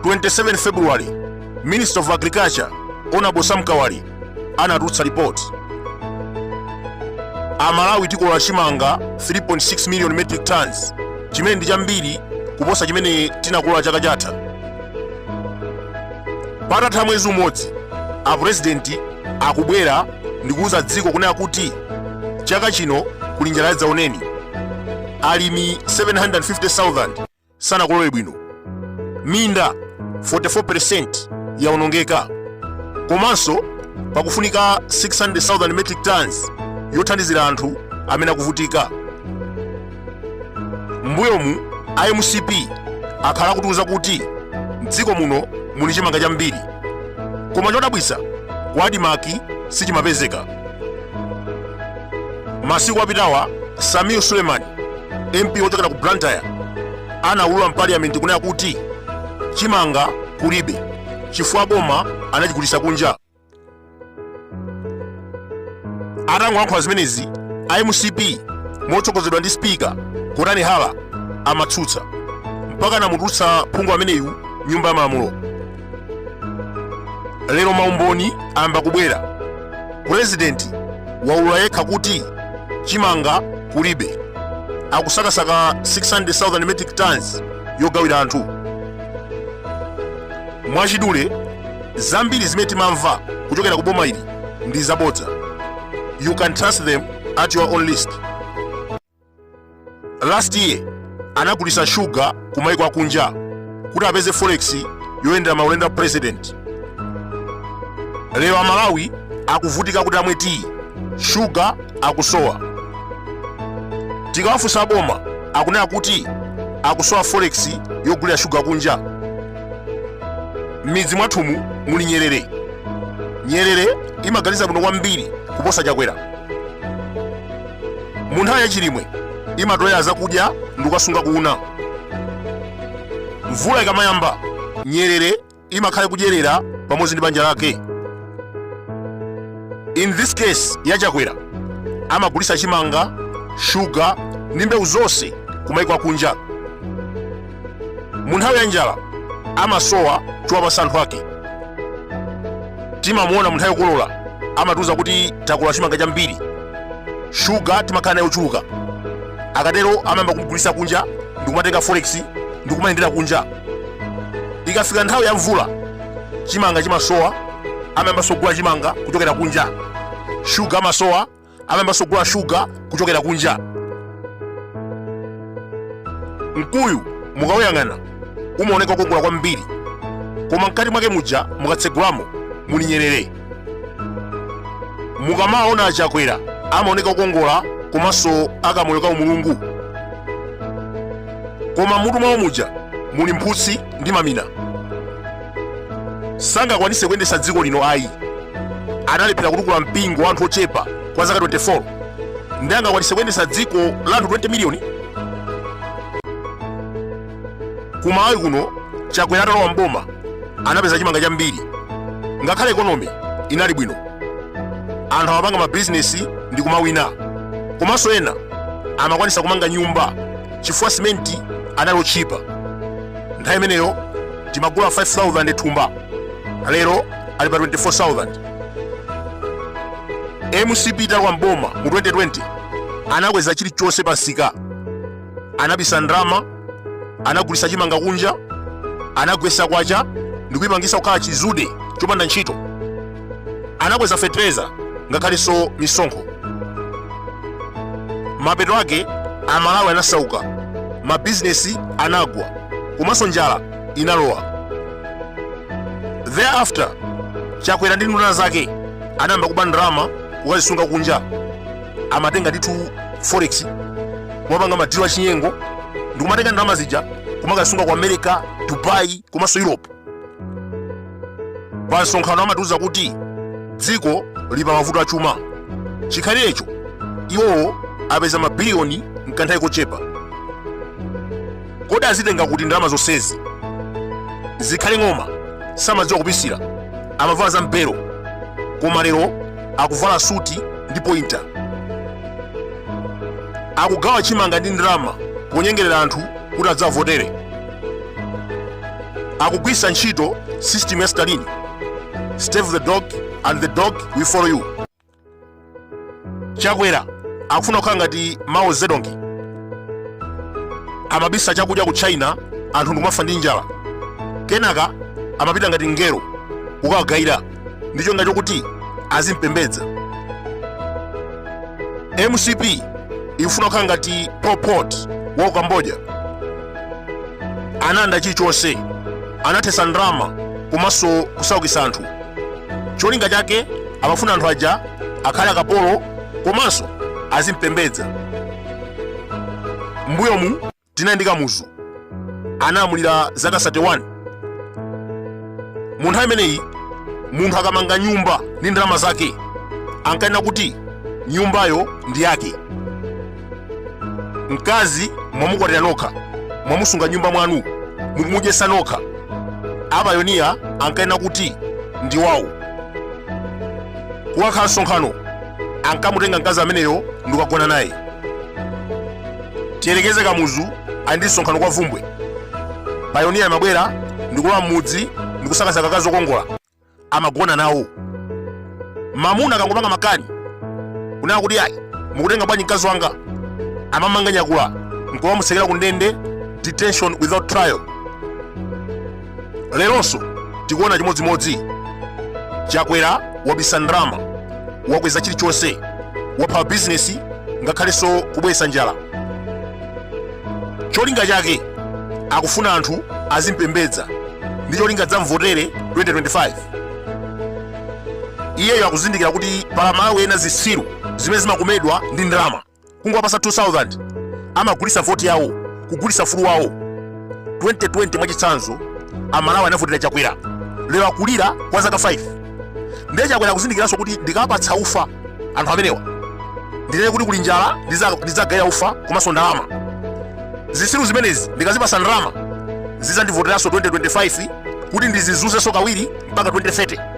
27 February, Minister of Agriculture, Honorable Sam Kawali anatulutsa lipoti aMalawi tikolola chimanga 3.6 million metric tons chimene ndi chambiri kuposa chimene tinakolola chaka chatha patatha mwezi umodzi apurezidenti akubwera ndikuwuza dziko kunena kuti chaka chino kuli njala yadzaoneni alimi 750,000 sanakolole bwino minda 44% yaonongeka komanso pakufunika 600,000 metric tons yothandizira anthu amene akuvutika mbuyomu a mcp akhala akutiuza kuti mdziko muno muli chimanga chambiri koma chodabwitsa ku ADMARC sichimapezeka masiku apitawa Sameer Suleman mp wochokera ku blantyre anaulula mpaliyamenti kunena kuti chimanga kulibe chifukwa aboma anachigulitsa kunja atangolankhula zimenezi a mcp motsogozedwa ndi spika gotani hara amatsutsa mpaka anamutulutsa phungu ameneyu m'nyumba ya malamulo lero maumboni ayamba kubwera purezidenti waulula yekha kuti chimanga kulibe akusakasaka 600,000 metric tons yogawira anthu mwachidule zambiri zimene timamva kuchokera ku boma ili ndi zabodza you can trust them at your own risk last year anagulitsa shuga ku maiko akunja kuti apeze forex yoyendera maulendo a president lero amalawi akuvutika kuti amwe tiyi shuga akusowa tikawafunsa aboma akunena kuti akusowa forex yogulira shuga kunja m'midzi mwathumu muli nyerere nyerere imaganiza bwino kwambiri kuposa chakwera mu nthawi yachilimwe imatolera zakudya ndi kukasunga ku una mvula ikamayamba nyerere imakhala kudyerera pamodzi ndi banja lake in this case ya chakwera amagulitsa chimanga shuga ndi mbewu zonse kumaiko akunja mu nthawi ya njala amasowa chowapatsa anthu ake timamuona mu nthawi yokolola amatiuza kuti takolola chimanga chambiri shuga timakhala naye ochuluka akatero amayamba kumgulitsa kunja ndikumatenga forex ndikumayendera kunja ikafika nthawi ya mvula chimanga chimasowa amayambaso kugula chimanga kuchokera kunja shuga amasowa amayambanso kugula shuga kuchokera kunja mkuyu mukawuyang'ana umaoneka kukongola kwambiri koma mkati mwake muja mukatsegulamo muli nyerere mukamaona achakwera amaoneka kukongola komanso akamoyo kaumulungu koma mutu mwawo muja muli mphutsi ndi mamina sangakwanise kuyendesa dziko lino ayi analephera kutukula mpingo wa anthu ochepa kwa zaka 24 ndi angakwanise kuyendesa dziko la anthu 20 miliyoni ku malawi kuno chakwera atalowa mboma anapeza chimanga chambiri ngakhale ekonomi inali bwino anthu amapanga mabizinesi ndi kumawina komanso ena amakwanisa kumanga nyumba chifukwa simenti anali otchipa nthawi imeneyo timagula 5000 thumba lero ali pa 24000 mcp italowa mboma mu 2020 anakweza chilichonse pa nsika anabisa ndalama anagulisa chimanga kunja anagwesa kwacha ndikuyipangisa kukhala chizude chopanda ntchito anakweza fetereza ngakhalenso misonkho mapeto ake amalawi anasauka mabizinesi anagwa komanso njala inalowa thereafter chakwera ndi nduna zake anayamba kuba ndalama kukazisunga kunja amatenga ndithu forex kumapanga madilo achinyengo ndikumatenga ndalama zija kumakazisunga ku america dubai komanso europe pa msonkhano amatiuza kuti dziko lili pa mavuto achuma chikhalirecho iwowo apeza mabiliyoni mkanthawi kochepa kodi azitenga kuti ndalama zonsezi zikhale ng'oma samadziwa kupisira amavala za mpero koma lero akuvala suti ndi pointa akugawa chimanga ndi ndalama ponyengerera anthu kuti adzawavotere akugwiritsa ntchito system ya stalin starve the dog and the dog will follow you chakwera akufuna kukhala ngati mao zedong amabisa chakudya ku china anthu ndikumafa ndi njala kenaka amapita ngati mngelo kukawagayira ndi cholinga chokuti azimpembedza mcp ikufuna kukhala ngati pol pot wa ku cambodia analanda chilichonse anathetsa ndalama komanso kusaukitsa anthu cholinga chake amafuna anthu aja akhale akapolo komanso azimpembedza mbuyomu Tinali ndi Kamuzu analamulira zaka 31. Mu nthawi imeneyi munthu akamanga nyumba ndi ndalama zake ankanena kuti nyumbayo ndi yake. Mkazi mwamukwatira nokha, mwamusunga m'nyumba mwanu, mukumudyesa nokha. Apayoniya ankanena kuti ndi wawo. Kukakhala msonkhano ankamutenga mkazi ameneyo ndikukagona naye. tiyerekeze kamuzu ali ndi msonkhano kwa vumbwe payoniya amabwera ndikulowa m'mudzi ndikusakasaka akazi okongola amagona nawo mamuna akangopanga makani kunena kuti ayi mukutenga bwanji mkazi wanga amam'manga nyakula nkukamutsekera ku ndende detention without trial leronso tikuona chimodzimodzi chakwera wabisa ndalama wakweza chilichonse wapha bizinesi ngakhalenso kubweretsa njala cholinga chake akufuna anthu azimpembedza ndi cholinga dzamvotere 2025 iyeyo akuzindikira kuti pali amalawi ena zisiru zimene zimakomedwa ndi ndalama kungowapasa 2000 amagulisa voti yawo kugulisa ufulu wawo 2020 mwachitsanzo amalawi anavotera chakwera lero akulira kwa zaka 5 ndiye chakwera akuzindikiranso kuti ndikawapatsa ufa anthu amenewa ndinene kuti kuli njala ndidzagawa ufa komanso ndalama zisiru zimenezi ndikazipasa ndalama zizandivoteranso 2025 kuti ndizizuzenso kawiri mpaka 2030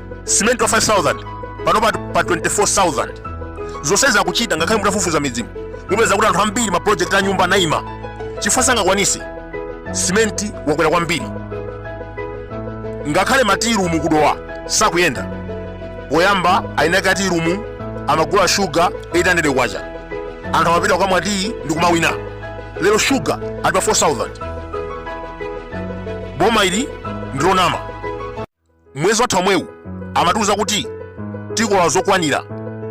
simenti wa 5000 pano pa 24000 zonsezi akuchita ngakhale mutafufuza m'midzimu mupeza kuti anthu ambiri maprojekti a nyumba anaima chifukwa sangakwanise simenti wakwera kwambiri ngakhale matirumu kudowa sakuyenda poyamba eni ake atirumu amagula shuga 800 kwacha anthu amapitako kukamwa tiyi ndi kumawina lero shuga ali pa 4000 boma ili ndilonama mwezi watha omwewu amatiuza kuti tikola zokwanira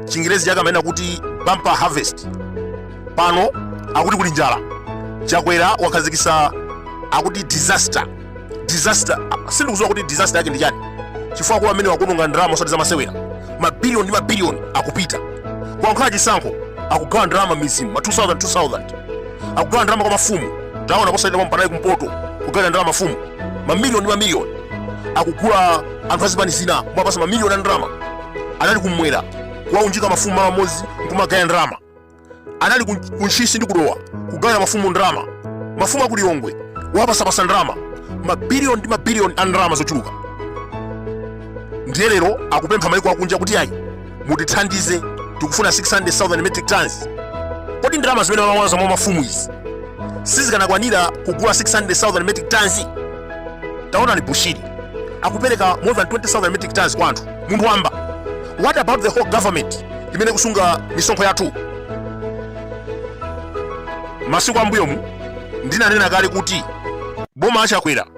chingerezi chake amanena kuti bumper harvest pano akuti kuli njala chakwera wakhazikisa akuti disaster disaster sindikuziwa kuti disaster yake ndi chani chifukwa Chakwera amene waononga ndalama osati zamasewera mabiliyoni ndi mabiliyoni akupita kukakhala chisankho akugawa ndalama m'mizimu ma 2000 2000 akugawa ndalama kwa mafumu taona posachedwa pompa anali kumpoto kugawira ndalama mafumu mamiliyoni ndi mamiliyoni akugula anthu azipani zina kumawapasa mamiliyoni a ndalama anali kumwera kuwaunjika mafumu malo amodzi nkumawagawira ndalama anali kuntchisi ndi kudowa kugawira mafumu ndalama mafumu aku lilongwe wapasapasa ndalama mabiliyoni ndi mabiliyoni a ndalama zochuluka ndiye lero akupempha maiko akunja kuti ayi mutithandize tikufuna 600,000 metric tons kodi ndalama zimene mumamwaza mwa mafumu izi sizikanakwanira kugula 600,000 metric tons taonani bushiri akupereka more than 20,000 metric tons kwa anthu munthu wamba what about the whole government imene kusunga misonkho yathu masiku ambuyomu ndinanena kale kuti boma a Chakwera